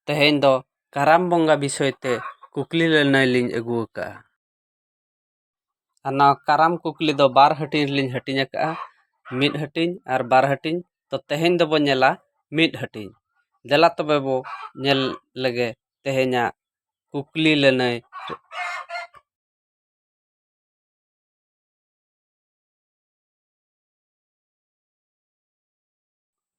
ᱛᱮᱦᱮᱧ ᱫᱚ ᱠᱟᱨᱟᱢ ᱵᱚᱸᱜᱟ ᱵᱤᱥᱚᱭ ᱛᱮ ᱠᱩᱠᱞᱤ ᱞᱟᱹᱱᱟᱹᱭ ᱞᱤᱧ ᱟᱹᱜᱩ ᱟᱠᱟᱫᱼᱟ ᱟᱨ ᱱᱚᱣᱟ ᱠᱟᱨᱟᱢ ᱠᱩᱠᱞᱤ ᱫᱚ ᱵᱟᱨ ᱦᱟᱹᱴᱤᱧ ᱨᱮᱞᱤᱧ ᱦᱟᱹᱴᱤᱧ ᱟᱠᱟᱫᱼᱟ ᱢᱤᱫ ᱦᱟᱹᱴᱤᱧ ᱟᱨ ᱵᱟᱨ ᱦᱟᱹᱴᱤᱧ ᱛᱚ ᱛᱮᱦᱮᱧ ᱫᱚᱵᱚᱱ ᱧᱮᱞᱟ ᱢᱤᱫ ᱦᱟᱹᱴᱤᱧ ᱫᱮᱞᱟ ᱛᱚᱵᱮ ᱵᱚ ᱧᱮᱞ ᱞᱮᱜᱮ ᱛᱮᱦᱮᱧᱟᱜ ᱠᱩᱠᱞᱤ ᱞᱟᱹᱱᱟᱹᱭ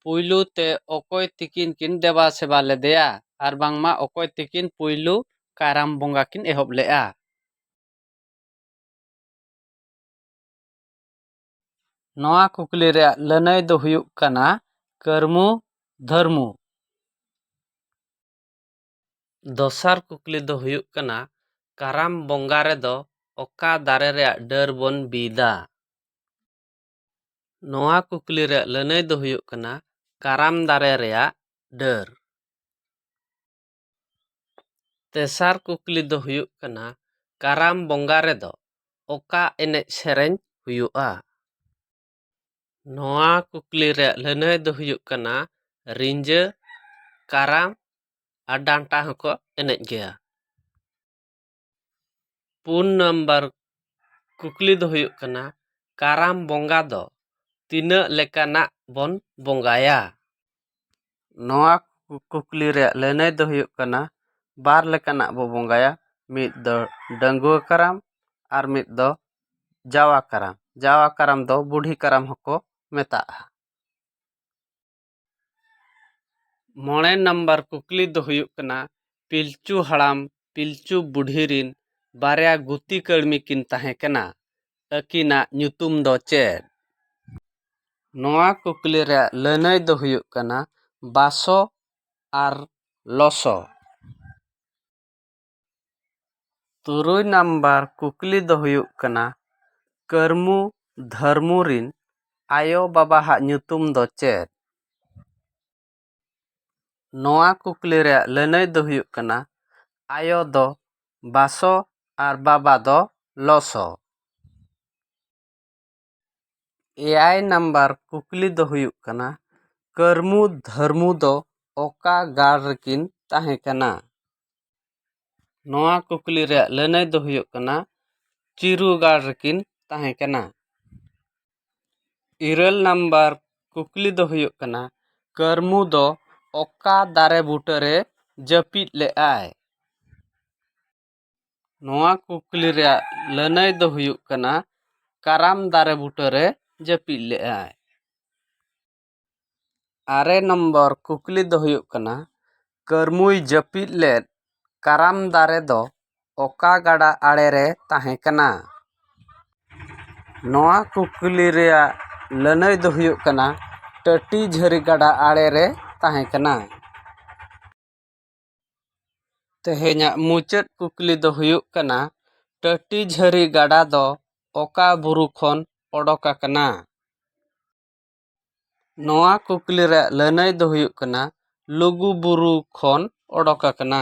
ᱯᱩᱭᱞᱩ ᱛᱮ ᱚᱠᱚᱭ ᱛᱤᱠᱤᱱ ᱠᱤᱱ ᱫᱮᱵᱟ ᱥᱮᱵᱟ ᱞᱮᱫᱮᱭᱟ ᱟᱨ ᱵᱟᱝᱢᱟ ᱚᱠᱚᱭ ᱛᱤᱠᱤᱱ ᱯᱩᱭᱞᱩ ᱠᱟᱨᱟᱢ ᱵᱚᱸᱜᱟ ᱠᱤᱱ ᱮᱦᱚᱵ ᱞᱮᱫᱼᱟ᱾ ᱱᱚᱣᱟ ᱠᱩᱠᱞᱤ ᱨᱮᱭᱟᱜ ᱞᱟᱹᱱᱟᱹᱭ ᱫᱚ ᱦᱩᱭᱩᱜ ᱠᱟᱱᱟ ᱠᱟᱹᱨᱢᱩ ᱫᱷᱟᱹᱨᱢᱩ᱾ ᱫᱚᱥᱟᱨ ᱠᱩᱠᱞᱤ ᱫᱚ ᱦᱩᱭᱩᱜ ᱠᱟᱱᱟ ᱠᱟᱨᱟᱢ ᱵᱚᱸᱜᱟ ᱨᱮᱫᱚ ᱚᱠᱟ ᱫᱟᱨᱮ ᱨᱮᱭᱟᱜ ᱰᱟᱹᱨ ᱵᱚᱱ ᱵᱤᱫᱟ? ᱱᱚᱣᱟ ᱠᱩᱠᱞᱤ ᱨᱮᱭᱟᱜ ᱞᱟᱹᱱᱟᱹᱭ ᱫᱚ ᱦᱩᱭᱩᱜ ᱠᱟᱱᱟ ᱠᱟᱨᱟᱢ ᱫᱟᱨᱮ ᱨᱮᱭᱟᱜ ᱰᱟᱹᱨ ᱛᱮᱥᱟᱨ ᱠᱩᱠᱞᱤ ᱫᱚ ᱦᱩᱭᱩᱜ ᱠᱟᱱᱟ ᱠᱟᱨᱟᱢ ᱵᱚᱸᱜᱟ ᱨᱮᱫᱚ ᱚᱠᱟ ᱮᱱᱮᱡ ᱥᱮᱨᱮᱧ ᱦᱩᱭᱩᱜᱼᱟ ᱱᱚᱣᱟ ᱠᱩᱠᱞᱤ ᱨᱮᱭᱟᱜ ᱞᱟᱹᱱᱟᱹᱭ ᱫᱚ ᱦᱩᱭᱩᱜ ᱠᱟᱱᱟ ᱨᱤᱸᱡᱟᱹ ᱠᱟᱨᱟᱢ ᱟᱨ ᱰᱟᱱᱴᱟ ᱦᱚᱸᱠᱚ ᱮᱱᱮᱡ ᱜᱮᱭᱟ ᱯᱩᱱ ᱱᱟᱢᱵᱟᱨ ᱠᱩᱠᱞᱤ ᱫᱚ ᱦᱩᱭᱩᱜ ᱠᱟᱱᱟ ᱠᱟᱨᱟᱢ ᱵᱚᱸᱜᱟ ᱫᱚ ᱛᱤᱱᱟᱹᱜ ᱞᱮᱠᱟᱱᱟᱜ ᱵᱚᱱ ᱵᱚᱸᱜᱟᱭᱟ ᱱᱚᱣᱟ ᱠᱩᱠᱞᱤ ᱨᱮᱭᱟᱜ ᱞᱟᱹᱱᱟᱹᱭ ᱫᱚ ᱦᱩᱭᱩᱜ ᱠᱟᱱᱟ ᱵᱟᱨ ᱞᱮᱠᱟᱱᱟᱜ ᱵᱚᱱ ᱵᱚᱸᱜᱟᱭᱟ ᱢᱤᱫ ᱫᱚ ᱰᱟᱺᱜᱩᱣᱟᱹ ᱠᱟᱨᱟᱢ ᱟᱨ ᱢᱤᱫ ᱫᱚ ᱡᱟᱣᱟ ᱠᱟᱨᱟᱢ ᱡᱟᱣᱟ ᱠᱟᱨᱟᱢ ᱫᱚ ᱵᱩᱰᱷᱤ ᱠᱟᱨᱟᱢ ᱦᱚᱸᱠᱚ ᱢᱮᱛᱟᱜᱼᱟ ᱢᱚᱬᱮ ᱱᱟᱢᱵᱟᱨ ᱠᱩᱠᱞᱤ ᱫᱚ ᱦᱩᱭᱩᱜ ᱠᱟᱱᱟ ᱯᱤᱞᱪᱩ ᱦᱟᱲᱟᱢ ᱯᱤᱞᱪᱩ ᱵᱩᱰᱷᱤ ᱨᱤᱱ ᱵᱟᱨᱭᱟ ᱜᱩᱛᱤ ᱠᱟᱹᱲᱢᱤ ᱠᱤᱱ ᱛᱟᱦᱮᱸ ᱠᱟᱱᱟ ᱟᱹᱠᱤᱱᱟᱜ ᱧᱩᱛᱩᱢ ᱫᱚ ᱪᱮᱫ ᱱᱚᱣᱟ ᱠᱩᱠᱞᱤ ᱨᱮᱭᱟᱜ ᱞᱟᱹᱱᱟᱹᱭ ᱫᱚ ᱦᱩᱭᱩᱜ ᱠᱟᱱᱟ ᱵᱟᱥᱚ ᱟᱨ ᱞᱚᱥᱚ ᱛᱩᱨᱩᱭ ᱱᱟᱢᱵᱟᱨ ᱠᱩᱠᱞᱤ ᱫᱚ ᱦᱩᱭᱩᱜ ᱠᱟᱱᱟ ᱠᱟᱹᱨᱢᱩ ᱫᱷᱟᱹᱨᱢᱩ ᱨᱤᱱ ᱟᱭᱳ ᱵᱟᱵᱟ ᱦᱟᱜ ᱧᱩᱛᱩᱢ ᱫᱚ ᱪᱮᱫ ᱱᱚᱣᱟ ᱠᱩᱠᱞᱤ ᱨᱮᱭᱟᱜ ᱞᱟᱹᱱᱟᱹᱭ ᱫᱚ ᱦᱩᱭᱩᱜ ᱠᱟᱱᱟ ᱟᱭᱳ ᱫᱚ ᱵᱟᱥᱚ ᱟᱨ ᱵᱟᱵᱟ ᱫᱚ ᱞᱚᱥᱚ ᱮᱭᱟᱭ ᱱᱟᱢᱵᱟᱨ ᱠᱩᱠᱞᱤ ᱫᱚ ᱦᱩᱭᱩᱜ ᱠᱟᱱᱟ ᱠᱟᱹᱨᱢᱩ ᱫᱷᱟᱹᱨᱢᱩ ᱫᱚ ᱚᱠᱟ ᱜᱟᱲ ᱨᱮᱠᱤᱱ ᱛᱟᱦᱮᱸ ᱠᱟᱱᱟ ᱱᱚᱣᱟ ᱠᱩᱠᱞᱤ ᱨᱮᱭᱟᱜ ᱞᱟᱹᱱᱟᱹᱭ ᱫᱚ ᱦᱩᱭᱩᱜ ᱠᱟᱱᱟ ᱪᱤᱨᱩ ᱜᱟᱲ ᱨᱮᱠᱤᱱ ᱛᱟᱦᱮᱸ ᱠᱟᱱᱟ ᱤᱨᱟᱹᱞ ᱱᱟᱢᱵᱟᱨ ᱠᱩᱠᱞᱤ ᱫᱚ ᱦᱩᱭᱩᱜ ᱠᱟᱱᱟ ᱠᱟᱹᱨᱢᱩ ᱫᱚ ᱚᱠᱟ ᱫᱟᱨᱮ ᱵᱩᱴᱟᱹᱨᱮ ᱡᱟᱹᱯᱤᱫ ᱞᱮᱫᱟᱭ ᱱᱚᱣᱟ ᱠᱩᱠᱞᱤ ᱨᱮᱭᱟᱜ ᱞᱟᱹᱱᱟᱹᱭ ᱫᱚ ᱦᱩᱭᱩᱜ ᱠᱟᱱᱟ ᱠᱟᱨᱟᱢ ᱫᱟᱨᱮ ᱵᱩᱴᱟᱹ ᱨᱮ ᱡᱟᱹᱯᱤᱫ ᱞᱮᱫᱟᱭ ᱟᱨᱮ ᱱᱚᱢᱵᱚᱨ ᱠᱩᱠᱞᱤ ᱫᱚ ᱦᱩᱭᱩᱜ ᱠᱟᱱᱟ ᱠᱟᱹᱨᱢᱩᱭ ᱡᱟᱹᱯᱤᱫ ᱞᱮᱫ ᱠᱟᱨᱟᱢ ᱫᱟᱨᱮ ᱫᱚ ᱚᱠᱟ ᱜᱟᱰᱟ ᱟᱲᱮ ᱨᱮ ᱛᱟᱦᱮᱸ ᱠᱟᱱᱟ ᱱᱚᱣᱟ ᱠᱩᱠᱞᱤ ᱨᱮᱭᱟᱜ ᱞᱟᱹᱱᱟᱹᱭ ᱫᱚ ᱦᱩᱭᱩᱜ ᱠᱟᱱᱟ ᱴᱟᱹᱴᱤ ᱡᱷᱟᱹᱨᱤ ᱜᱟᱰᱟ ᱟᱲᱮ ᱨᱮ ᱛᱟᱦᱮᱸ ᱠᱟᱱᱟ ᱛᱮᱦᱮᱧᱟᱜ ᱢᱩᱪᱟᱹᱫ ᱠᱩᱠᱞᱤ ᱫᱚ ᱦᱩᱭᱩᱜ ᱠᱟᱱᱟ ᱴᱟᱹᱴᱤ ᱡᱷᱟᱹᱨᱤ ᱜᱟᱰᱟ ᱫᱚ ᱚᱠᱟ ᱵᱩᱨᱩ ᱠᱷᱚᱱ ᱚᱰᱚᱠ ᱟᱠᱟᱱᱟ ᱱᱚᱣᱟ ᱠᱩᱠᱞᱤ ᱨᱮᱭᱟᱜ ᱞᱟᱹᱱᱟᱹᱭ ᱫᱚ ᱦᱩᱭᱩᱜ ᱠᱟᱱᱟ ᱞᱩᱜᱩ ᱵᱩᱨᱩ ᱠᱷᱚᱱ ᱚᱰᱚᱠ ᱟᱠᱟᱱᱟ